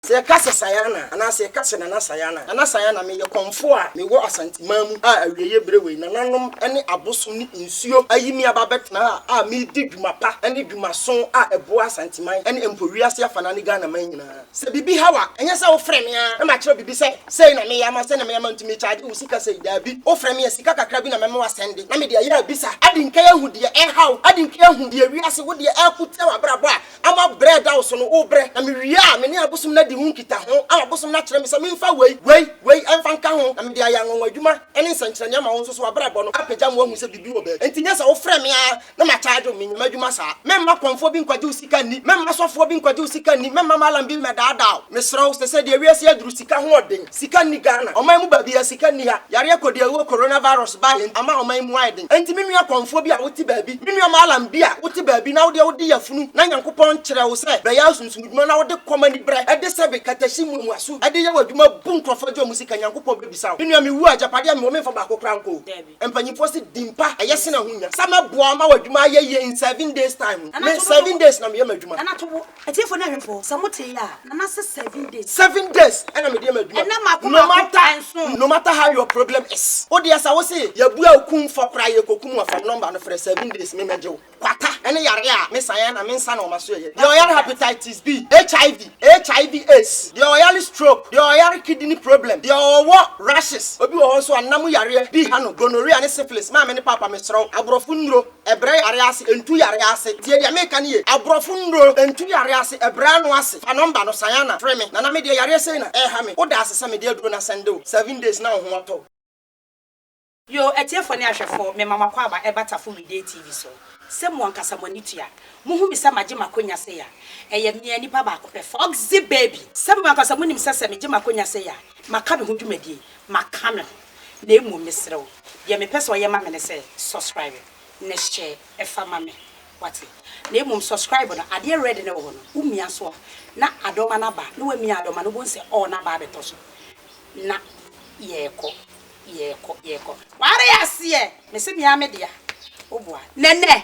Sɛ yɛka sɛ Sayana anaa sɛ yɛka sɛ Nana Sayana, Nana Sayana, meyɛ kɔmfoɔ a mewɔ Asanteman mu a awieeɛ berɛ wei nananom ne abosom ne nsuo ayi me aba abɛtena ha a meredi dwuma pa ne dwumaso a ɛboa Asanteman ne mpo wiase afanaa ne Ghanaman nyinaa. Sɛ biribi ha wo a, ɛnyɛ sɛ wofrɛ me ara na makyerɛ wo biribi sɛ sei na meyɛ ama, sei na meyɛ ama nti mekyagye wo sika sei, daabi, wofrɛ me a sika kakra bi na mɛma woasɛnde na mede ayɛ abisa, adi nkan ahu deɛ ɛreha wo, adi nkan ahu deɛ wiase, wo deɛ, ɛreko tia w'abrabɔ a Ama brɛ da wo so no, wobrɛ, na mewie a, me ne abosom no adi ho nkitaho, ama abosom no akyerɛ me sɛ memfa wei, wei, wei mfa nka ho, na mede ayɛ anwanwadwuma ne nsɛnkyerɛnne ama wo nso, so w'abrabɔ no apagya ma woahu sɛ biribi wɔ baabi? Enti nyɛ sɛ wofrɛ me ara na makyaagye wo, menyɛ m'adwuma saa. Mɛmma kɔmfoɔ bi nkwagye wo sika nni, mɛmma sɔfoɔ bi nkwagye wo sika nni, mɛmma malam bi mmɛdaadaa wo. Mesrɛ wo, sɛ sɛ deɛ wiase aduru sika ho ɔden. Sika nni Ghana. Ɔman mu baabi a sika nni ha. Yareɛ kɔdiawuo coronavirus baeɛ nti ama ɔman mu ayɛ den. Enti me nua kɔmfoɔ bi a wote baabi, me nua Mallam bi a wote baabi na wodeɛ wode yafunu na Nyankopɔn kyerɛ wo sɛ bɛyɛ ɔsomsomdwuma na wode kɔm aniberɛ de sɛbe katahyi muamuaso de yɛ w'adwuma bu nkurɔfoɔ agye wɔn sika Nyankopɔn bɛbisa wo. Me nua mewu a agyapadeɛ a mewɔ memfa baako koraa nkɔ o. Mpanyimfoɔ se din pa ɛyɛ sene ahonya. Sɛ mɛboa wo ma w'adwuma ayɛ yie in seven days time ho. Me seven days na meyɛ m'adwuma. Atiefo ne ahwɛfo, sɛ mo tee a, na na sɛ seven days. Seven days ɛna me deɛ ma adua. Ɛna mako mako, ɛnson. No matter, no matter how your problem is, wo deɛ sɛ wo se yɛ bua wo kum fɔ koraa yɛ kɔ kum wo a, fa me number no frɛ, seven days me mɛ gye wo. Kwata ɛne yareɛ a me san a na me nsa na wɔma so yɛ yɛ. Deɛ ɔyare hepatitis B, HIV, HIV aids, deɛ ɔyare stroke, deɛ ɔyare kidney problem, deɛ ɔwɔ rashes, obi wɔ hɔ nso a nna mu yareɛ bi ha no, gonorrhea ne syphilis, maame ne paapa me serɛ wo, aborɔfo nnuro. Brɛ yare ase, ntu yare ase. Tie deɛ meka no yie. Aborɔfo nnuro, ntu yare ase, brɛ ano ase. Fa nɔmba no, san ana, frɛ me. Nana, medeɛ yareɛ sei na ɛreha me. Woda ase sɛ mede aduro no asɛnde wo. Seven days na wo ho atɔ wo. Yoo atiefoɔ ne ahwɛfoɔ, mema mo akwaaba ɛba Tafo Media TV so. Sɛ mo ankasa mo ani tua, mo hu me sɛ magye m'akonya sei a, ɛyɛ me a nipa baako pɛ, Foxy Baby. Sɛ mo ankasa mo nim sɛ sɛ megye m'akonya sei a, maka me ho dwumadie, maka me ho. na mmom mesrɛ wo deɛ mepɛ sɛ ɔyɛ ma me ne sɛ subscribe na hyɛ ɛfa ma me wate na mmom subscribe no adeɛ red no wɔ hɔ no wo mia soɔ na adɔma no aba na wamia adɔma no wobɛhu sɛ all no aba abɛtɔ so na yɛɛkɔ yɛɛkɔ yɛɛkɔ ware aseɛ mese mea me dea woboa nɛnɛ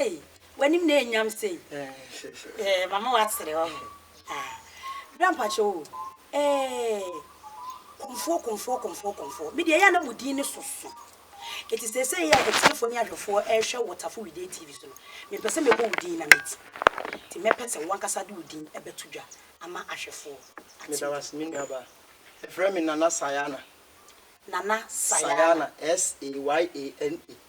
Ei w'anim na ɛnyam sei eh, mama w'asere hɔ he ah, bra mpakyɛ o eh, kɔmfoɔ kɔmfoɔ kɔmfoɔ kɔmfoɔ me deɛ ɛyɛ na mo din ne soso eti sese yɛ atiefoɔ ne ahwɛfoɔ ɛrehwɛ wɔ tafo wide tv so no mempɛ sɛ mebɔ wo din na meti ti mɛpɛ sɛ wankasa de wo din ɛbɛto dwa ama ahwɛfoɔ meda wase me nuaba ɛfrɛ me nana sayana nana sayana S-A-Y-A-N-A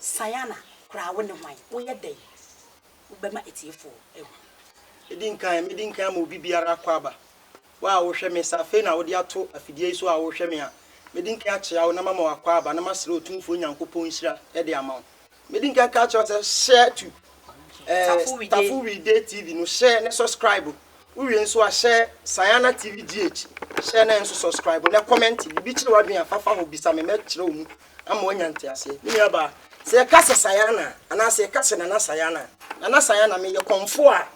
Sayana koraa wo ne hwan? Woyɛ dɛn wobɛma atiefoɔ ahu? Di nkan, Medi nkan ama obi biara akɔ aba. Wo a wohwɛ me, sɛ afei na wode ato afidie yi so a wohwɛ me a, medi nkan akyea wo na mama wakɔ aba na masrɛ Otumfoɔ Nyankopɔn nhyira de ama wo. Medi nkan ka akyerɛ wo sɛ hyɛ to eh, Tafo Wide TV no, hyɛ ne subscribe. Wowie nso a, hyɛ Sayana TV GH, hyɛ na nso subscribe na comment. Biribi kyere w'adwene a, fafa hɔ bisa me, mɛkyerɛ wo mu ama wanya nteaseɛ. Me nuabaa, sɛ yɛka sɛ Sayana anaa sɛ yɛka sɛ Nana Sayana a, Nana Sayana, meyɛ kɔmfoɔ a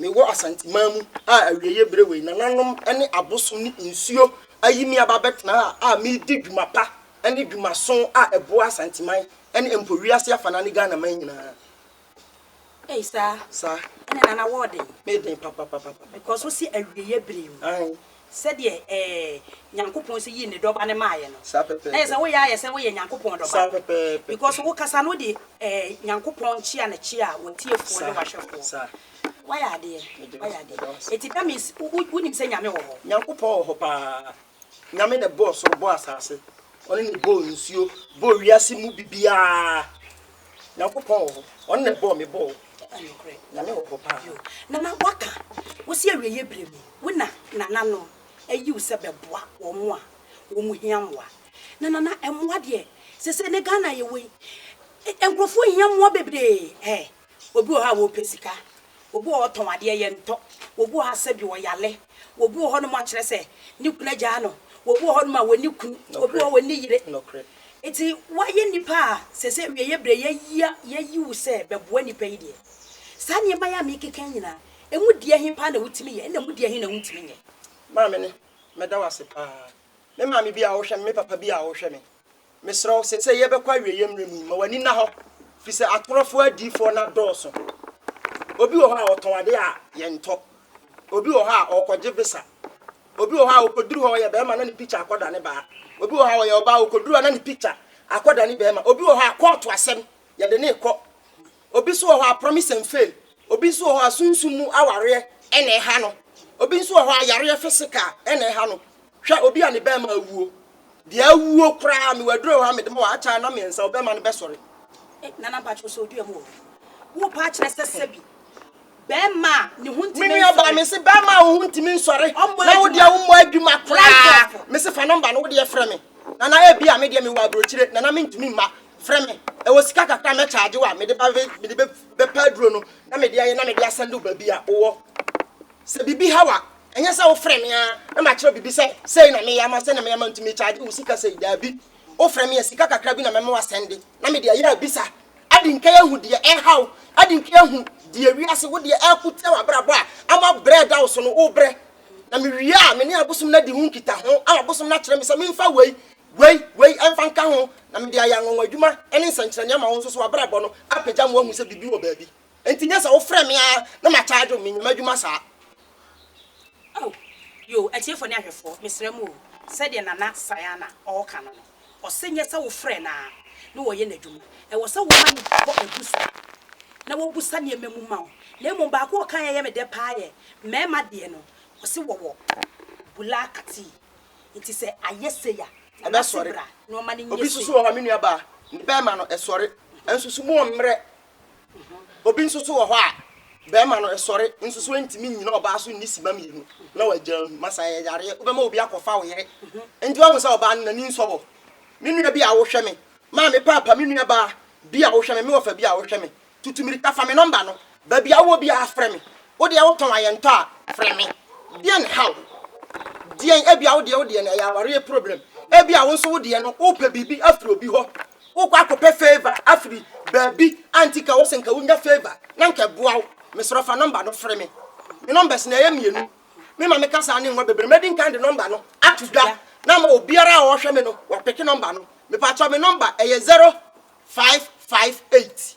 mewɔ Asanteman mu a awieeɛ berɛ wei nananom ne abosom ne nsuo ayi me aba abɛtena ha a meredi dwuma pa ne dwumaso a ɛboa Asanteman ne mpo wiase afanaa ne Ghanaman nyinaa. Ei saa. Saa. Ɛne nana wɔ ɔden. Me den papapapapa. Because wo se awieɛ bere mu. Ae. Sɛdeɛ ɛɛ Nyankopɔn se yii ne dɔba no maaeɛ no. Saa pɛpɛɛpɛ. Na yɛsɛ woyɛ ayɛ sɛ woyɛ Nyankopɔn dɔba. Saa pɛpɛɛpɛ. Because wo kasa no wode ɛɛ Nyankopɔn kyea no kyea w'atiefoɔ ne w'ahwɛfoɔ. Saa. Wayɛ adeɛ. Meda wo se. Wayɛ adeɛ. Meda wo se. Enti that means wo wo wonim sɛ Nyame wɔ hɔ. Nyankopɔn wɔ hɔ paa. Nyame na ɛbɔɔ soro bɔɔ asase ɔno na ɛbɔɔ nsuo bɔɔ wiase mu bibiaa Nyankopɔn wɔ hɔ ɔno na ɛbɔɔ me bɔɔ Nyame wɔ hɔ paa. Nana waka wosi awieɛ berɛ mu wo na nananom ayi wo sɛ bɛboa wɔn a wɔn hia mmoa na nana mmoa deɛ sɛsɛ ne Ghana yɛwɔ yi nkorɔfoɔ hia mmoa bebree eh. Obi wɔ hɔ a ɔpɛ sika. Obi wɔ hɔ ɔtɔn adeɛ, yɛntɔ. Obi wɔ hɔ asɛ bi ɔyale. Obi wɔ hɔnom a kyerɛ sɛ ne kunu agyaa no. Obi wɔ hɔnom a ɔnni kunu. Obi wɔ hɔ ɔnni yere. Nti woayɛ nipa a sɛsɛ awieɛ berɛ yɛayia yɛayi wo sɛ bɛboa nipa yi deɛ, saa nneɛma yi a meekeka yi nyinaa, ɛmu deɛ he paa na wotumi yɛ ɛna ɛmu deɛ he na wontumi nyɛ? Maame no, meda wo ase paa. Me maame bi a ɔhwɛ me, me papa bi a ɔhwɛ me. Mesrɛ wo, sɛ sɛ yɛbɛkɔ awieeɛ mmerɛ mu yi, ma w'ani nna hɔ, firi sɛ atorɔfoɔ adiyifoɔ no adɔɔso. Obi wɔ hɔ a, ɔtɔn adeɛ a yɛntɔ. Obi wɔ hɔ a, ɔrekɔgye visa. Obi wɔ hɔ a, ɔkɔduru hɔ, ɔyɛ barima na ne picture akɔdane baa. Obi wɔ hɔ a, ɔyɛ ɔbaa, ɔkɔduru hɔ na ne picture akɔdane barima. Obi wɔ hɔ a, kɔɔto asɛm, yɛde no rekɔ. Obi nso wɔ hɔ a, promise and fail. Obi nso wɔ hɔ a, sunsum mu awareɛ na ɛha no. Obi nso wɔ hɔ a, yareɛ physical na ɛha no. Hwɛ, obi a ne bɛɛma awuo, deɛ awuo koraa no, waduro hɔ a mede ma wo, akyɛ ana mmiɛnsa, wo bɛɛma no bɛsɔre? Eh, Nana mpakyɛ ɔsɛ ɔdua mu wɔ hɔ, wo paa kyerɛ sɛ sɛbi, bɛɛma a ne ho ntimi nsɔre. Menua baa mese bɛɛma a wo ho ntimi nsɔre, na wo deɛ wo mmɔ adwuma koraa, mese fa nɔmba no wo deɛ frɛ me, Nana ebi a me deɛ me wɔ aburokyire, Nana me ntumi mma, frɛ me, ɛwɔ sika kakra a mɛ charge wo a, mede ba, mede bɛ, bɛpɛ aduro no, na mede ayɛ, na mede asɛnde wo baabi a wo wɔ. Sɛ biribi haw a, ɛnyɛ sɛ wofrɛ me ara na makyerɛ biribi sɛ sei na meyɛ ama wo, sei na meyɛ ama wo nti mekyagye wo sika sei. Daabi. Wofrɛ me a, sika kakra bi na mɛma woasɛnde na mede ayɛ abisa. Adi nkan ahu deɛ ɛreha wo. Adi nkan ahu deɛ wiase, wo deɛ ɛreko tia w'abrabɔ a ama brɛ reda wo so no, wobrɛ. Na mewie a, me ne abosom no adi ho nkitaho ama abosom no akyerɛ me sɛ memfa wei, wei, wei mfa nka ho na mede ayɛ anwanwa adwuma ne nsɛnkyerɛnne ama wo nso so w'abrabɔ no apagya ma woahu sɛ biribi wɔ baabi. Enti nyɛ sɛ wofrɛ me ara na ma charge wo, menyɛ m'adwuma saa. Oh, yoo, atiefo ne ahwɛfoɔ, mesrɛ mo o, sɛdeɛ Nana Sayana ɔɔka no no, ɔse nyɛ sɛ wofrɛ no ara na wɔyɛ n'adwuma, ɛwɔ sɛ woma no bi bɔ abusa na wɔbusa nneɛma mu ma wo, na mmom baako a ɔkaeɛ a ɛyɛ me dɛ paa yɛ mmarima deɛ no, ɔse wɔwɔ Bulaa Katii, nti sɛ ayɛ sei a, Nana ase bra na ɔma no nyɛ sei. Obi nso so wɔ hɔ, me nuabaa, ne bɛɛma no, ɛsɔre, nso so mu ɔmmerɛ, Obi nso so wɔ hɔ a, barima no sɔre nso so ntumi nnyina ɔbaa so nni simma mmienu na wagyaa mu. Masa yɛ yareɛ, wobɛma obi akɔfa wo yere. Nti wahu sɛ ɔbaa no n'ani nsɔ hɔ. Me nua bi a wohwɛ me, maame paapa me nua baa bi a wohwɛ me, me wɔfa bi a wohwɛ me, tutu mmirika fa me nɔmba no, baabi a wowɔ biara frɛ me. Wo deɛ wotɔn a yɛntɔ a, frɛ me. Deɛ na ɛhaw? Deɛn? Ebia wo deɛ wo deɛ no ɛyɛ awareɛ problem. Ebia wo nso wo deɛ no wopɛ biribi afiri obi hɔ Wokɔ akɔpɛ favour afiri baabi a nti ka wo se nka wonya favour na nka ɛboa wo. Mesrɛ fa number no fre me. Me numbers no ɛyɛ mmienu. Me ma me kasaa ne nwa bebree. Mɛdi nkan de number no ato dwa na ama obiara a ɔɔhwɛ me no wapeke number no. Mepaakyɛw me number ɛyɛ zero five five eight.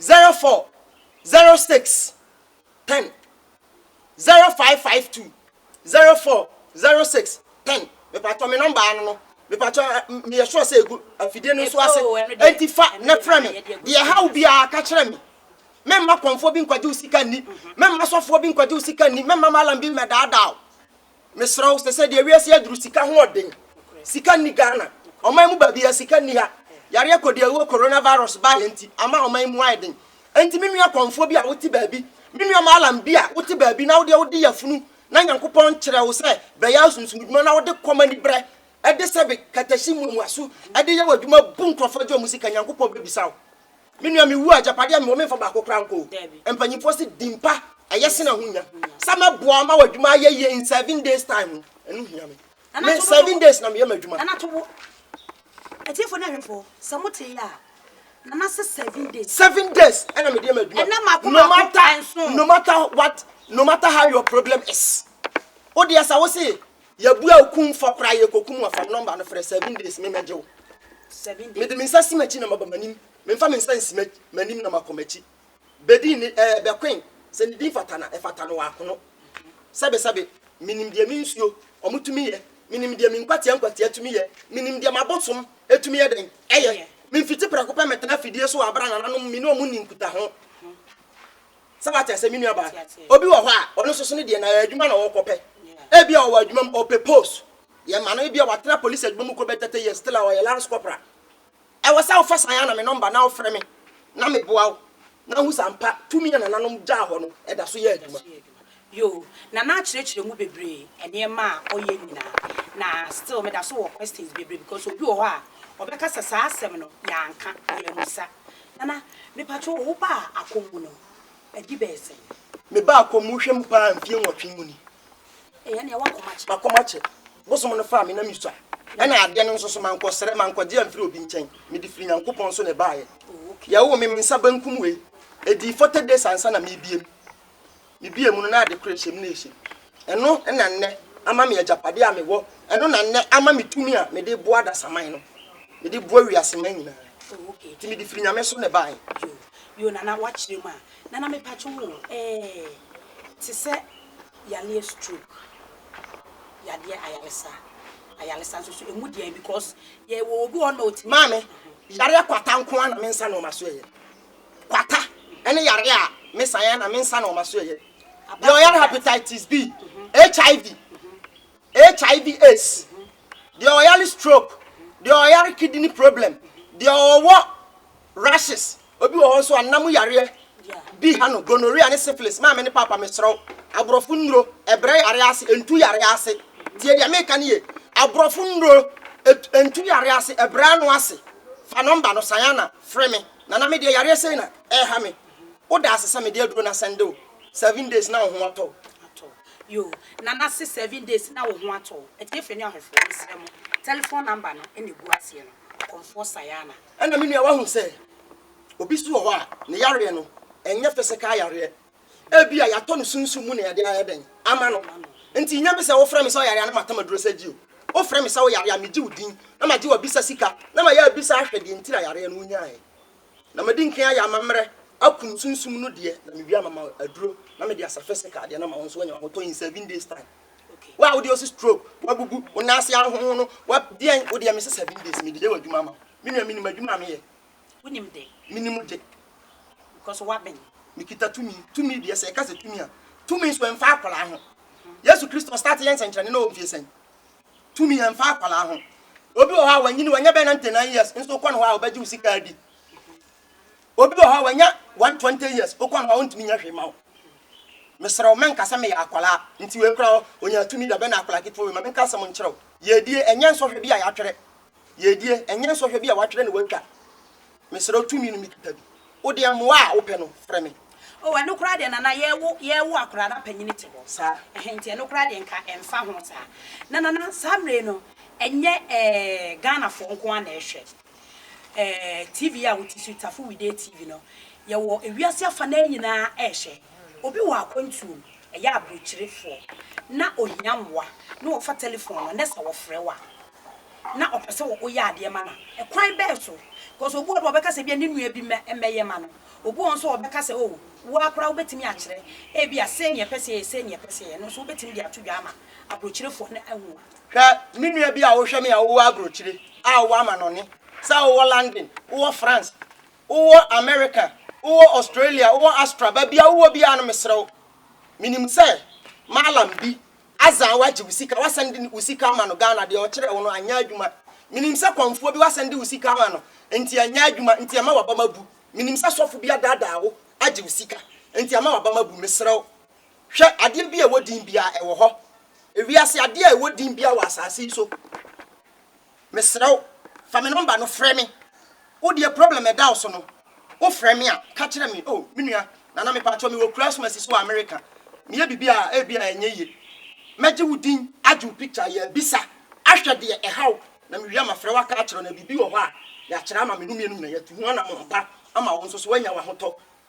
Zero four, zero six, ten, zero five five two, zero four, zero six, ten, mepatɔ me nɔmba ano no mepatɔ meyɛ sure sɛ egu afidie no nso ase enti fa na frɛ me deɛ haw biara ka kyerɛ me mɛmma kɔnfoɔ bi nkwagye wo sika nni mɛmma sɔfoɔ bi nkwagye wo sika nni mɛmma malam bi mmɛdaadaa wo Mesrɛ wo, sɛsɛ deɛ wiase aduru sika ho ɔden. Sika nni Ghana. Ɔman mu baabiara sika nni ha. Yareɛ kɔdi awuo Corona virus baeɛ nti ama ɔman mu ayɛ den. Enti me nua kɔmfoɔ bi a wote baabi, me nua Mallam bi a wote baabi na wodeɛ wode yafunu na Nyankopɔn kyerɛ wo sɛ bɛyɛ asunsumdwuma na wode kɔm aniberɛ de sɛbe katahyi muamuaso de yɛ w'adwuma bu nkurɔfoɔ gye wɔn sika Nyankopɔn bɛbisa wo. Me nua me wu a agyapadeɛ a mewɔ memfa baako koraa nkɔ o. Mpanyinfoɔ se din pa ɛyɛ sen ahonya. Sɛ mɛboa ama w'adwuma ayɛ yie in seven days time no ɛno hia me. Me seven days na meyɛ m'adwuma. Nana to bo. Atiefo ne ahwɛfo sɛ mo te yɛ a nana se seven days. Seven days ɛna mede yɛ m'adwuma. Ɛnɛ mako mako no matter no matter what no matter how your problem is. Wo deɛ sa wo se Yɛbua wo kumfɔ koraa yɛkɔku mu afa nɔmba no frɛ seven days me mɛgye wo mede me nsa si m'akyi na maba m'anim memfa me nsa nsi m'anim na makɔ m'akyi bɛdi ne ɛɛ bɛkoen sɛ ne din fata na ɛfata no wɔakono sɛbesɛbe menim deɛ me nsuo ɔmo tumi yɛ menim deɛ me nkwatia nkwatia tumi yɛ menim deɛ m'abosom ɛtumi yɛ dɛn ɛyɛ memfiti prɛko pɛ mɛtena afidie so wɔ abra nananom me ne ɔmo nni nkutaho Sɛ wate aseɛ, me nuabaa. Obi wɔ hɔ a, ɔno nso so no deɛ, na adwuma na ɔrekɔpɛ. Ebia ɔwɔ adwuma mu, ɔpɛ post. Yɛma no, ebia watena polisi adwuma mu kɔbɛ 30 years, still a ɔyɛ lance corporal. Ɛwɔ sɛ wofa saa na me nɔmba na wofrɛ me na meboa wo na wohu sɛ ampa tumi a nananom gyaa hɔ no da so yɛ adwuma. Yo, na na akyerɛkyerɛ mu bebree nneɛma a ɔyɛ nyinaa na still meda so wɔ questions bebree because obi wɔ hɔ a ɔbɛka sɛ saa asɛm no yɛanka yɛamusa. Nana mepatwo wo baa akɔmmu no ɛdi bɛyɛ sɛn? Me baa akɔmmu hwɛ mu paa mfie nwɔtwe mu ni. Ei ɛneɛ w'akɔm akyɛ. M'akɔm akyɛ. Bosom no faa me na mesua ɛna adeɛ no nso so mankɔ srɛ mankɔgye amfiri obi nkyɛn mede firi Nyankopɔn so na ɛbaeɛ. Yɛwoo me me nsa benkum wei ɛdii forty days ansa na mebiem. Mebue mu no, na ade koro nhyɛ me na ɛhyɛ mu. Ɛno na nnɛ ama me agyapadeɛ a mewɔ. Ɛno na nnɛ ama me tumi a mede reboa adasaman no, mede reboa wiaseman nyinaa. Oh, okay. Nti mede firi Nyame so na ɛbaeɛ. Yo, yo, Nana, woakyerɛ mu a. Nana, mepatwo wo, ɛɛ, te sɛ yareɛ stroke, yadeɛ ayaresa, ayaresa nso so, ɛmu deɛn? Because yɛwɔ obi wɔ hɔ na ɔtumi. Maame, yareɛ kwata nko ara na me nsa na wɔma so ɛyɛ. Kwata ne yareɛ a me san a na me nsa na wɔn aso ɛyɛ. Deɛ ɔyare hepatitis B, HIV, HIV AIDS, deɛ ɔyare stroke, deɛ ɔyare kidney problem, deɛ ɔwɔ rashes, obi wɔ hɔ nso a nna mu yareɛ bi ha no, gonorrhea ne syphilis, maame ne paapa mesrɛ wo, aborɔfo nnuro, ɛbrɛ yareɛ ase, ɛntu yareɛ ase. Tie deɛ meka no ye, aborɔfo nnuro, ɛntu yareɛ ase, ɛbrɛ ano ase. Fa nɔmba no, Sayana, frɛ me. Nana me deɛ yareɛ sei na ɛha me wo da ase sɛ me de aduro no asɛnde wo seven days na wo ho atɔ wo. Atɔ yoo Nana se seven days na wo ho atɔ wo atiefɛ ne ahɔfoɔ mesrɛ mo telephone number no na egu aseɛ no kɔmfoɔ Sayana. Ɛna me nua wahu sɛ obi so wɔ hɔ a ne yareɛ no ɛnyɛ physical yareɛ Ebia yɛatɔ no sunsum mu na yɛde ayɛ dɛn ama no. Enti nnya me sɛ wofrɛ me sɛ ɔyare a na matam aduro sɛ gye o. Wofrɛ me sɛ woyare a, megye wo din, na magye wo abisa sika, na mayɛ abisa ahwɛ deɛ nti na yareɛ no wonyaeɛ. Na madi nkan ayɛ amammerɛ akum sunsum no deɛ, na mewie a mama aduro na mede asa physical deɛ na ma wo nso woanya w'ahotɔ in seven days time. Wo a wodeɛ ɔse stroke, wabubu, wo nan ase ahonhono, wa deɛn, wodeɛ mese seven days mede yɛ w'adwuma ama wo. Me nua menim adwuma a meyɛ. Wonim de. Menim de. Because woaben. Mekita tumi. Tumi deɛ sɛ ɛka sɛ tumi a, tumi nso ɛmfa akwadaa ho. Yesu Kristo start yɛ nsɛnkyerɛnne na ɔmfie sɛn. Tumi ɛmfa akwadaa ho. Obi wɔ hɔ a wanyini wanya bɛyɛ 99 years nso wokɔ no hɔ a ɔbɛgye wo sika adi. Obi wɔ hɔ a wanya 120 years wokɔ no hɔ a ɔntumi nyɛ hwee ma wo. Mesrɛ wo mɛnka sɛ meyɛ akwadaa nti wei kora ɔnya tumi da bɛn na akwadaa ketewa wei ma menka asɛm nkyerɛ wo. Yɛdie ɛnyɛ nsɔhwɛ bi a yɛatwerɛ. Yiedie, ɛnyɛ nsɔhwɛ bi a wɔatwerɛ na wɔatwa. Mesrɛ wo, tumi no mekita bi. Wodeɛ, mmoa a wopɛ no, frɛ me. O, ɛno koraa deɛ, Nana, yɛrewo, yɛrewo akwadaa, na panin te hɔ. Saa. Ɛhɛn, nti ɛno koraa deɛ, nka ɛmfa ho saa. Na, Nana, saa mmerɛ yi no, ɛnyɛ, ɛɛ, Ghanafoɔ nko ara na ɛrehwɛ, ɛɛ, TV yi a wote so yi, Tafo Widie TV no. Yɛwɔ ewiase afa no ara nyinaa rehwɛ. Obi wɔ akwantuom, ɛyɛ aburokyerefoɔ, na ɔhia mmoa, na ɔfa telefon no, na sɛ wɔfrɛ wo a. na ɔpɛ sɛ woyɛ adeɛ ma no a, kwan bɛn so? Because obi wɔ hɔ no ɔbɛka sɛ ebia ne nua bi mmɛyɛ ma no. Obi wɔ hɔ nso a ɔbɛka sɛ oh, wo ara koraa wobɛtumi akyerɛ ebia sei na yɛpɛ sɛ yɛyɛ, sei na yɛpɛ sɛ yɛyɛ. Ɛno nso wobɛtumi de ato dwa ama aburokyerefoɔ no ahu. Hwɛ me nua bi a wohwɛ me a wowɔ aburokyire a wowɔ amanɔne sɛ wowɔ London, wowɔ France, wowɔ America, wowɔ Australia, wowɔ Astra, baabi a wowɔ biara no mesrɛ wo, menim sɛ Mallam bi Azaan wagye wo sika wasan de wo sika ama no Ghana deɛ ɔkyerɛɛ wo no anyɛ adwuma menim sɛ kɔmfoɔ bi wasan de wo sika ama no nti anyɛ adwuma nti ɛma wabam abu menim sɛ sɔfo bi adaadaa wo agye wo sika nti ama wabam abu mesrɛ wo hwɛ adeɛ bi a ɛwɔ din biara ɛwɔ hɔ ewiase adeɛ a ɛwɔ din biara wɔ asase yi so Mesrɛ wo fa me number no frɛ me. Wo deɛ problem a ɛda wo so no, wo frɛ me a ka kyerɛ me oh me nua Nana mepakyɛw mewɔ Kurasmasi so wɔ America meyɛ biribi a ebi a ɛnyɛ yie mɛgye wo din agye wo picture ayɛ abisa ahwɛ deɛ ɛha wo na mewie a mafrɛ wo aka akyerɛ wo na biribi wɔ hɔ a yɛakyerɛ ama me no mmienu nyinaa yɛatu ho anamɔn pa ama wo nso so woanya w'ahotɔ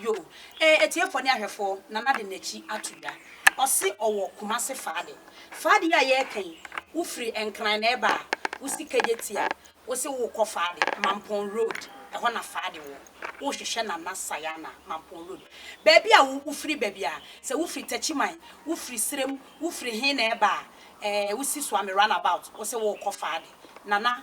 Yo eh atiefoɔ ne ahwɛfoɔ Nana de nakyi ato dwa Ɔse ɔwɔ Kumase Faade Faade yi a yɛɛka yi Wo firi Nkran na ɛɛba a Wo si Kegyeti a Wo se wo kɔ Faade Mampɔn road Ɛhɔ na Faade wɔ Wo hwehwɛ Nana Sayana Mampɔn road Baabi a wo firi ba bia Sɛ wo firi Takyiman Wo firi Serem Wo firi he na ɛɛba a eh Wo si Suame run about Wo se wo kɔ Faade Nana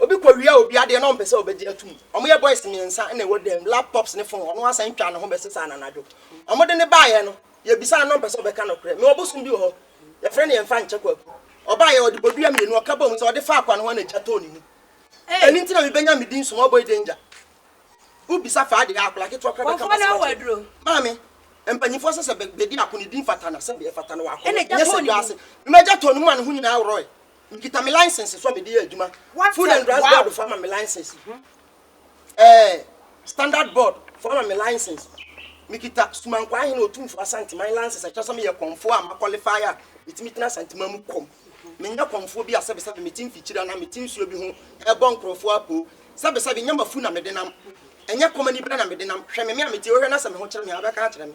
Obi kɔ wia obi adeɛ na ɔmpɛ sɛ ɔbɛgye atum. Wɔyɛ boys mmiɛnsa na ɛwɔ dan mu, laptops ne phone, ɔno asan twa ne ho bɛsesa no anadwo. Wɔde no baeɛ no, yɛbisaa no na ɔmpɛ sɛ ɔbɛka nokorɛ. Mewɔ bosom bi wɔ hɔ, yɛfrɛ no Yɛmfa Nkyɛ Kwaku. Ɔbaeɛ, ɔde bodua mmienu, ɔka bɔɔ mu sɛ ɔde faa kwa no hɔ na gya tɔɔ ne mu. Ɛno nti na mebɛnya me din Smallboy Danger. Wobisa faa deɛ a, akwadaa ketewa koraa bɛka m'asɛm akyerɛ wo. Maame, mpanimfoɔ sɛ sɛ bɛdi ako no, din fata no a, sɛdeɛ ɛfata no wɔ akɔnnɔ, ɛnyɛ sɛ dwaase. Mema gya tɔɔ ne mu ma ne ho nyinaa worɔe. Mekita me license so a mede yɛ adwuma. Food and Drugs Board fo ama me license. Ɛɛ Standard Board fo ama me license. Mekita Sumankwa Ahene Otumfo Asanteman license ɛkyɛ sɛ meyɛ kɔmfo a ma qualify a metumi tena Asanteman mu kɔm. Menyɛ kɔmfoɔ bi a sɛbesɛbe mete mfikyiri anaa mete nsuo bi ho ɛbɔ nkurɔfoɔ apoo. Sɛbesɛbe nyɛ m'afu na mede nam. Ɛnyɛ kɔm anibere na mede nam. Hwɛ me me a mete yi wohwɛ na sɛ me ho kyere me a wobɛka akyerɛ me.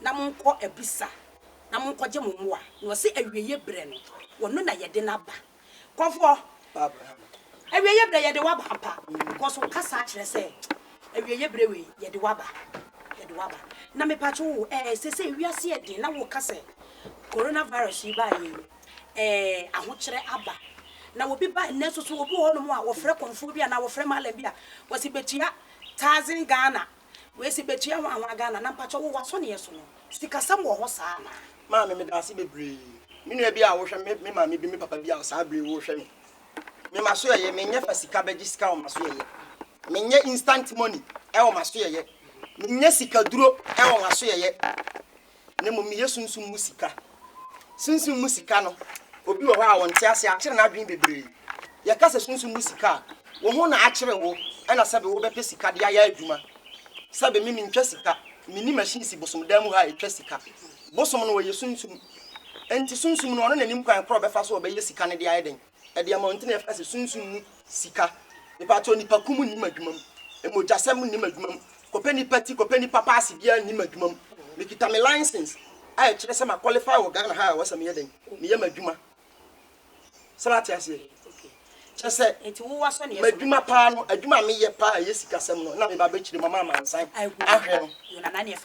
na monkɔ abisa na monkɔgye mo mmoa, na ɔse awieɛ berɛ no ɔno na yɛde no aba. Nkurɔfoɔ, awieɛ berɛ yɛde wo aba ampa, because wo kasa akyerɛ sɛ awieɛ berɛ wei yɛde wo aba, yɛde wo aba. Na mepatwo wo ɛɛ sesei wiase yɛ den na woka sɛ Corona virus yi baeɛ yi ɛɛ ahokyerɛ aba, na obi ba nnɛ nso so obi wɔ hɔ nom a ɔfrɛ kɔmfoɔ bi anaa ɔfrɛ mallam bi a ɔse bɛtua thousand Ghana Wei se betua ho ahoa Ghana na mpakyɛ wo w'asɔneɛ so no sikasɛm wɔ hɔ saa anaa? Maame medaase bebree me nua bi a wohwɛ me me maame bi me papa bi a saa bere wohwɛ me me masoɛyɛ me nyɛ fa sika bɛgye sika wɔ masoɛyɛ me nyɛ instant money ɛwɔ masoɛyɛ me nyɛ sika duro ɛwɔ masoɛyɛ na mmom meyɛ sunsum mu sika. Sunsum mu sika no, obi wɔ hɔ a ɔnte ase, akyere n'adwene bebree. Yɛka sɛ sunsum mu sika a, wo ho na akyere wo, ɛna sɛbe wobɛpɛ sika de ayɛ adwuma. Sɛbe me mentwa sika, menni machine si bosom dan mu ha a ɛtwa sika. Bosom no ɔyɛ sunsum, enti sunsum no ɔno na ɛnim kwan korɔ ɔbɛfa so a ɔbɛyɛ sika no de ayɛ dɛn? Adiamɔnten a ɛfa sɛ sunsum mu sika. Mepakyɛw, nnipakum nnim adwuma mu. Mogyasɛm nnim adwuma mu. Kɔpɛ nnipa ti, kɔpɛ nnipa paase biara nnim adwuma mu. Mekita me license a ɛkyerɛ sɛ ma qualify wɔ Ghana ha a ɛwɔ sɛ meyɛ dɛn? Meyɛ m'adwuma. Sɛ wate aseɛ? Kyerɛ sɛ m'adwuma paa no, adwuma a meyɛ paa a ɛyɛ sikasɛm no na meba abɛkyerɛ mu ama amansan ahwɛ no.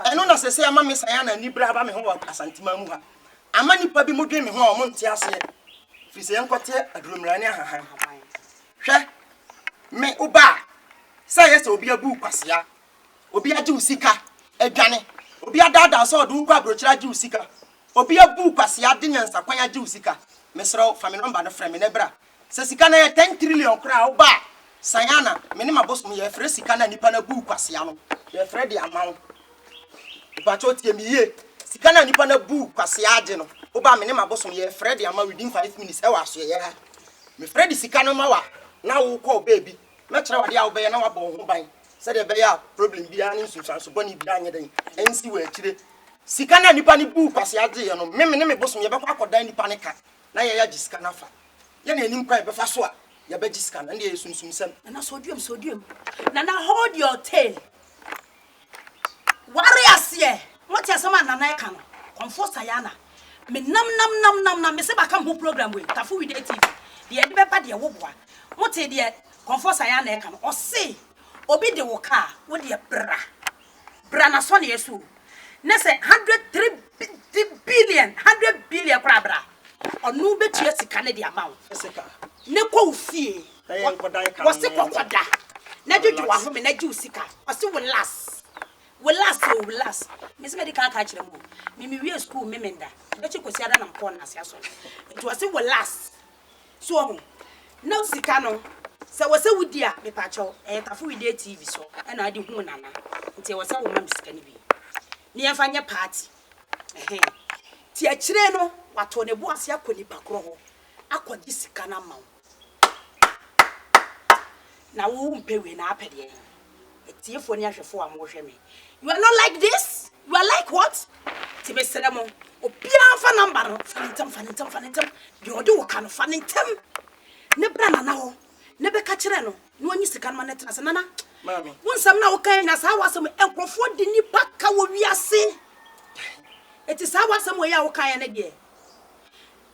Ɛno na sɛsɛ ama me san a na anibere aba me ho wɔ Asanteman mu ha. Ama nnipa bi mo dwen me ho a wɔn nte aseɛ, firi sɛ yɛn kɔteɛ aduromira ne ahahan. Hwɛ, me, wo ba a, sɛ ɛyɛ sɛ obi abu wo kwasea, obi agye wo sika adwane, obi adaadaa wo sɛ ɔde wo kɔ abrokyire agye wo sika, obi abu wo kwasea de nyansakwan agye wo sika, mesrɛ wo, fa me nɔmba no frɛ me na bra Sɛ sika no yɛ ten trillion koraa a woba a san a na me ne m'abosom yɛfrɛ sika no a nipa no abuu kwasea no yɛfrɛ de ama wo. Mpakyɛw tie me yie, sika no a nipa no abuu kwasea agye no woba a me ne m'abosom yɛfrɛ de ama wo within five minutes ɛwɔ asoɛeɛ ha. Mefrɛ de sika no ma wo a na wo kɔ wo baabi, mɛkyerɛ wo adeɛ a wobɛyɛ na wabɔ wo ho ban sɛdeɛ ɛbɛyɛ a problem biara ne nsunsuanso bɔne biara nyɛ dɛn ɛnsi wɔ akyire. Sika no a nipa no buu kwasea gyeeɛ no me me ne me bosom yɛbɛkɔ akɔdan nipa no ka. na yɛyɛ gye sika no afa yɛna yɛnim kwan yɛbɛfa so a yɛbɛgye sika no ɛnde ɛyɛ sunsumsɛm. Nana sɔduam sɔduam Nana hold your tail ware aseɛ mote asɛm a Nana ɛka no kɔmfoɔ Sayana me nam nam nam nam nam mese baka me ho program wei Tafo Wide TV deɛ ɛde bɛba deɛ woboa mote deɛ kɔmfoɔ Sayana ɛka no ɔse obi de wo kaa wodeɛ bra bra n'asɔneɛ so o, na sɛ hundred three bi di billion, hundred billion koraa bra, ɔno bɛtua sika no de ama wo, na kɔ wo fie, wɔse kɔ kɔda, na dwodwo w'ahome na gye wo sika, ɔse wo last, wo last o, wo last, mese mɛdi kan aka akyerɛ mo o, me mewie sukuu me menda, bɛkye Kwasiada na mekɔɔ Nnaase asɔre, nti ɔse wo last. So woahu? Na sika no, sɛ ɛwɔ sɛ wodi a, mepakyɛw, ɛyɛ Tafo Wedeɛ TV so na wode huu Nana, nti ɛwɔ sɛ woma me sika no bi na yɛmfa nyɛ party. Ɛhɛn. Nti akyire no, wato ne bo ase akɔ nipa korɔ hɔ akɔgye sika no ama wo. Na wompɛ wei na apɛ deɛn? Atiefo ne ahwɛfo a moɔhwɛ me you are not like this you are like what ti mesrɛ mo obiara mfa number no fa ne ntɛm fa ne ntɛm fa ne ntɛm deɛ ɔde wo ka no fa ne ntɛm ne bra nana hɔ ne bɛka kyerɛ no na ɔnyi sika no ma ne tena se nana wo nsɛm na wokan na saa wasɛm nkurɔfoɔ de nipa ka wɔ wiase ɛti saa wasɛm wɔ yɛ a wokan yɛ ne deɛ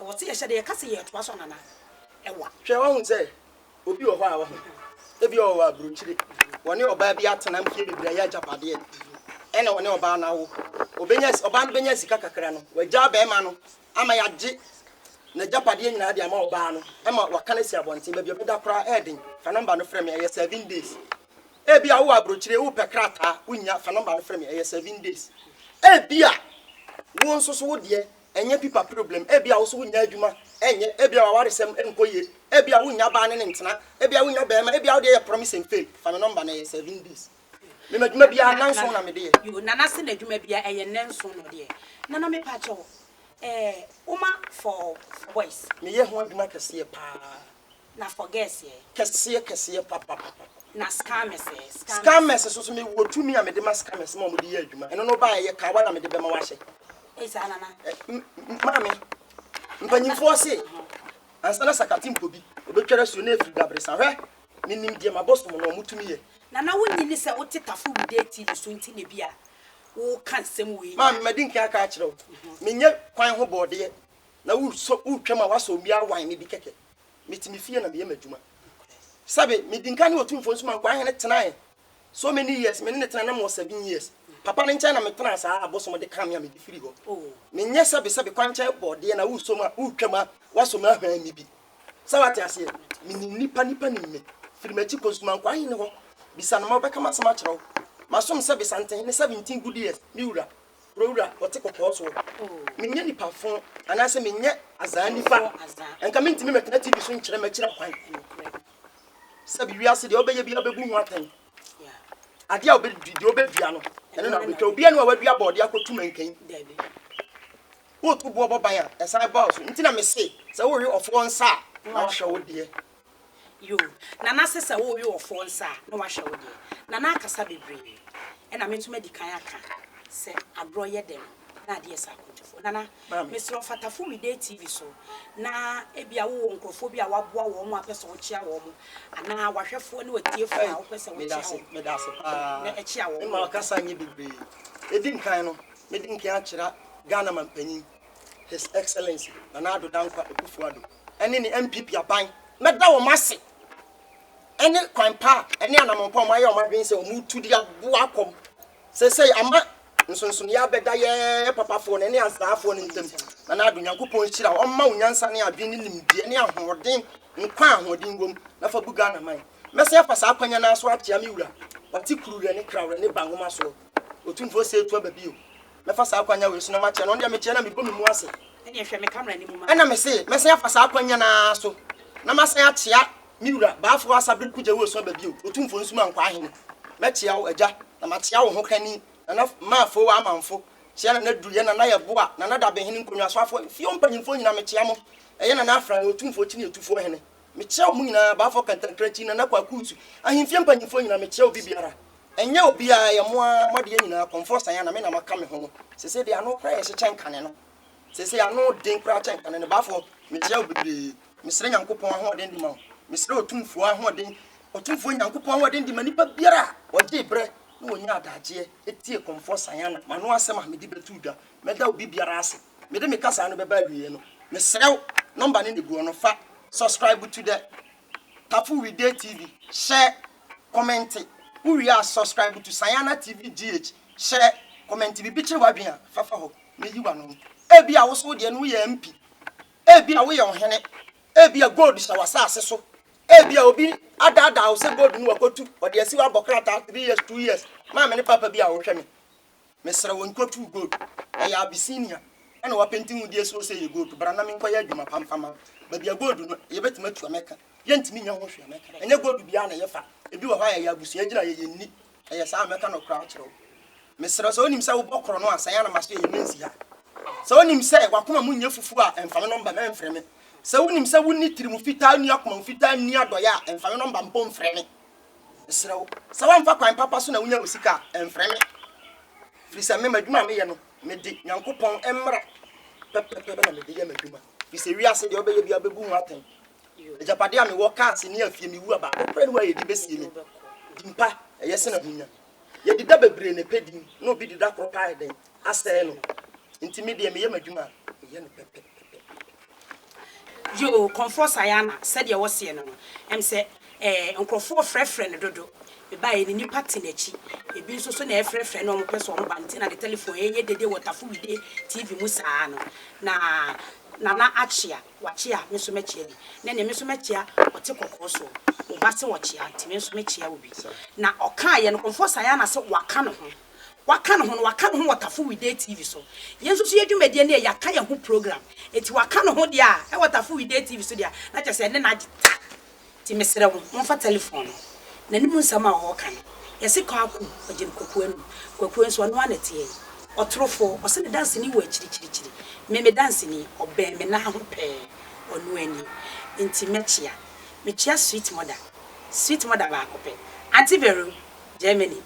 Ɛwɔ sɛ yɛhyɛ da yɛka sɛ yɛretoa so anana. Ɛwa. Hwɛ, woahu sɛ obi wɔ hɔ a, wahu. Ebia ɔwɔ aburokyire. Ɔne ɔbaa bi atena mfeɛ bebree, ayɛ agyapadeɛ, ɛna ɔne ɔbaa no awo. Ɔbɛnya, ɔbaa no bɛnya sika kakra no, wagyaa barima no ama yɛagye n'agyapadeɛ nyinaa de ama ɔbaa no, ɛma waka no asi abɔnten. Baabi a ɔbɛda koraa ɛyɛ den. Fa nɔmba no frɛ me, ɛyɛ seven days. Ebia wowɔ aburokyire, wopɛ krataa, wonnya, fa nɔmba no frɛ me, ɛyɛ seven days. Ebia wo nso so wo deɛ, Ɛnyɛ pipa problem. Ebia wo nso wonnya adwuma nyɛ. Ebia w'awaresɛm nkɔ yie. Ebia wonnya baa ne ne ntena. Ebia wonnya barima. Ebia wo deɛ yɛ promise and fail. Fa me nɔmba na ɛyɛ seven days. Me m'adwuma biara nnanson na mede yɛ. Yoo Nana se n'adwuma biara ɛyɛ nnanson na ɔde yɛ. Nana mepakyɛw eh woma for for boys. Meyɛ ho adwuma kɛseɛ paa. Na forgets yɛ. Kɛseɛ kɛseɛ papapapa. Na scammers ɛ. Scammers so so me wɔ tumi a mede ma scammers ma wɔn de yɛ adwuma. Ɛno no baɛ yɛ kawa na mede bɛma wahyɛ. Ei saa nana. Ɛ m maame mpanyinfoɔ se ansa na sakate mpo bi ɔbɛtware asuo na afiri dabresa hwɛ me nim deɛ mabosom no wɔn tumi yɛ. Nana wo nni ni sɛ wo te tafo wude TV so nti na ebia wo ka nsɛm wei nyinaa. Maame madi nkan aka akyerɛ wo me nyɛ kwan ho bɔɔdeɛ na wo sɔ wo twam a wasɔ obi awan me bi kɛkɛ. Mete me fie na meyɛ m'adwuma. Sɛbe, medi nka ne Otumfoɔ Nsumaa Nkoa Hene tenaeɛ so many years, me ne no tenae na mewɔ seven years. Papa no nkyɛn na metenaa saa a abosom de kaa me a mede firii hɔ. Menyɛ sɛbe sɛbe kwankyɛn bɔɔdeɛ na woresɔ mu a woretwa mu a woasɔ mu ahwan me bi. Sɛ woate aseɛ, menim nnipa, nnipa nim me. Firi m'akyi kɔ Nsumaa Nkoa Hene hɔ, bisa no ma ɔbɛka m'asɛm akyerɛ wo. Masom sɛbe Santehene seventeen good years, me wura. Kurowura ɔte kɔkɔɔ soɔ. Menyɛ nipa fo anaasɛ menyɛ azaa nipa. Nka mentumi mɛtena TV so nkyerɛ mɛkyerɛ kwan. Sɛbi wiase deɛ ɔbɛyɛ biara bɛbu ho atɛn. Adeɛ a ɔbɛdi deɛ ɔbɛdua no ɛno na ɔbɛtwa. Obi ɛno a wadua bɔɔde akɔtu mankan. Wotu boɔ bɔ ban a ɛsan ba wo so. Nti na mese sɛ wowe ɔfoɔ nsa a na wahwɛ wo deɛ. Yoo Nana se sɛ wowe ɔfoɔ nsa a na wahwɛ wo deɛ. Nana akasa bebree ɛna me nso madi kan aka sɛ agorɔ yɛ dɛ no na adeɛ sa akwantufoɔ. Nana mesrɛ wo fa Tafumide TV so na ebia wowɔ nkurɔfoɔ bi a woaboa wɔn a wopɛ sɛ wokyea wɔn anaa w'ahwɛfoɔ ne w'atiefoɔ a wopɛ sɛ wokyea wɔn no na ɛkyea wɔn wɔ hɔ. Medase paa. Mema makasa nyɛ bebree. Ɛdi nkan no medi nkan akyera Ghana Mampanyin His Excellency Nana Addo Dankwa Akufo-Addo ɛne ne NPP aban. Mɛda wɔn ase ɛne kwan pa a ɛne anamɔn pa a wɔn ayɛ wɔn adwene sɛ wɔn retu de aboa akɔm. Seesei ama nsonsonoeɛ abɛda yɛn papafoɔ no ɛne asraafoɔ no ntam. Nana Addo, Nyankopɔn nhyira wo. Ɔmma wo nyansa ne adwene ne nimdeɛ ne ahoɔden, nkwa a ahoɔden wom, na fa bu Ghana man. Mɛsan afa saa akwannya no ara so akyea me wura, Ɔte Kuruwerɛ ne Krawrɛ ne Ba Nwomasoɔ, Otumfoɔ Seetu Aba bio. mɛfa saa akwannya wei so na makyea no. Ɔno deɛ mekyea no a, mebɔ me mu ase. Ɛnneɛ hwɛ, me camera no mu ma. Ɛnna mese, mɛsan afa saa akwannya no ara so na masan akyea me wura Baafoɔ Asabere Kugya Woesua ba bio, Otumfoɔ Nsumaa Nkwaa Hene. Mɛkyea wo, Agya, na makyea wo hokani, Nana Maafoo Amanfo. Kyea Nana Aduruyɛ, Nana Yeboah, Nana Dabehene, Nkonnwasoafoɔ, Efie hɔ mpanimfoɔ nyinaa, mekyea mo. Ɛyɛ Nana Afran, Otumfoɔ Kyineetufoɔ Hene. Mekyea wɔn nyinaa, Baafoɔ Kantankrankyi, Nana Kwaku Usu, ahemfie mpanimfoɔ nyinaa, mekyea obi biara. Ɛnyɛ obiaa ɛyɛ mo ara mo adeɛ nyinaa kɔmfoɔ saa na me na maka me ho no sesei deɛ ano koraa yɛ hye kyɛn kane no sesei ano den koraa kyɛn kane no baafoɔ mekyea wo bebree mesrɛ Nyankopɔn ahoɔden de ma wo mesrɛ Otumfoɔ ahoɔden Otumfoɔ Nyankopɔn ahoɔden de ma nipa biara a ɔgyee berɛ na ɔnyaa adagyeɛ tie kɔmfoɔ Sayana mano asɛm a mede bɛto dwa mɛda obi biara ase mede me kasaa no bɛba awieɛ no mesrɛ wo number no na ɛguɔ no fa subscribe to the Tafo Wide TV hyɛ kɔmɛnte, wo wie a subscribe to Sayana TV GH hyɛ kɔmɛnte biribi kyerɛ w'adwene a fa fa hɔ na yi w'ano mu. Ebia wo nso wo deɛ no woyɛ MP, ebia woyɛ ɔhene, ebia gold hyɛ w'asaase so, ebia obi adaadaa wo sɛ gold no wakɔtu, ɔde asi hɔ abɔ krataa three years, two years, maame ne papa bi a wɔhwɛ me, Mesrɛ wo nkɔ tu gold ɛyɛ Abyssinia ɛna wapenti ho die so ɔsɛ yɛ gold bra na menkɔ yɛ adwuma pa mfa ma wo baabi a gold no yɛbɛtumi atua mɛka yɛntumi nya ho hwee mɛka ɛnyɛ gold biara na yɛfa ebi wɔ hɔ a yɛyɛ abusua gyina yɛyɛ nni ɛyɛ saa mɛka no koraa kyerɛ wo mesrɛ sɛ wonim sɛ wobɔ korɔ no a sɛn a na maso yɛyɛ mensi ha sɛ wonim sɛ wakoma mu nyɛ fufuo a ɛmfa me nɔmba mɛmfrɛ me sɛ wonim sɛ wonni tiri mu fitaa nni akoma mu fitaa nni adɔeɛ a ɛmfa me nɔmba mpo mfrɛ me Mesrɛ wo, sɛ woamfa kwan papa so na wonya wo sika a, mfrɛ me. Firi sɛ me, m'adwuma a meyɛ no, mede Nyankopɔn mmara pɛpɛpɛ na mede yɛ m'adwuma. Firi sɛ wiase deɛ wobɛyɛ biara bɛbu ho atɛn. Agyapadeɛ a mewɔ, cars ne afie, me wu a, baako pɛ ne hɔ a yɛde bɛsie me. Din pa, ɛyɛ sene ahonya. Yɛdi da bebree na ɛpɛ din na obi di da koro paa yɛ dɛn asɛe no nti me deɛ meyɛ m'adwuma a meyɛ no pɛpɛpɛpɛpɛpɛ. Yoo Comfort Sayana sɛdeɛ wo seɛ no no ɛm sɛ ɛɛ nkorɔfoɔ frɛfrɛ no dodo mebaeɛ no nipa te nakyi ebi nso so na ɛfrɛfrɛ no ɔmo pɛ sɛ ɔmo ba nti na ne telephone ɛɛyɛ dede wɔ Tafo Wide TV mu saa no na Nana Akyea Wakyea, me nso mɛkyea bi. Nnɛ deɛ, me nso mɛkyea ɔte kɔkɔɔ soɔ. Wo ba se ɔkyea, nti me nso mɛkyea wo bi. Na ɔkaeɛ no, Kɔmfoɔ Sayana se waka ne ho. Waka ne ho no, waka ne ho wɔ Tafo Weekday TV so. Yɛn nso so yɛ dwumadie no yɛ, yɛaka yɛn ho program. Nti waka ne ho deɛ a, ɛwɔ Tafo Weekday TV so deɛ a, na kyerɛ sɛ ɛne no agye ta. Nti mesrɛ wo momfa telefon no n'anim nsɛm a ɔɔka no yɛse Kwaku ɔgye no Kwaku anum Kwaku nso ɔnoaa na ɛteɛ yi ɔtorofo ɔse ne danseni wɔ akyiri kyiri kyiri me me danseni ɔbɛn me nan ho pɛɛ ɔnoaa ni nti mɛkyea mekyea sweet mother sweet mother baako pɛ Auntie Vero Germany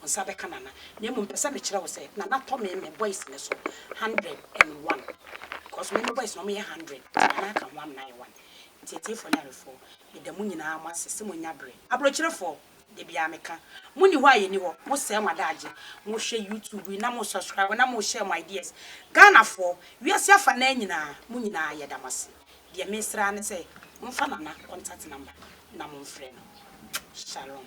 wo nsa bɛka Nana na mmom pɛ sɛ mekyerɛ wo sɛ Nana tɔ me me boys no so hundred and one because me me boys no wɔyɛ hundred nti Nana aka ho amena ayɛ one nti atiefoɔ ne awefoɔ meda mo nyinaa mo ase sɛ monya berɛ abrokyerefoɔ da biara meka mo nni hɔ a yɛnni hɔ mo sɛe mo adaagye mo hwɛ YouTube yi na mo subscribe na mo share mo ideas Ghanafoɔ wiase afa naa nyinaa mo nyinaa yɛda mo ase. Deɛ mesrɛ ara ne sɛ momfa Nana contact number na momfrɛ no. Shalom.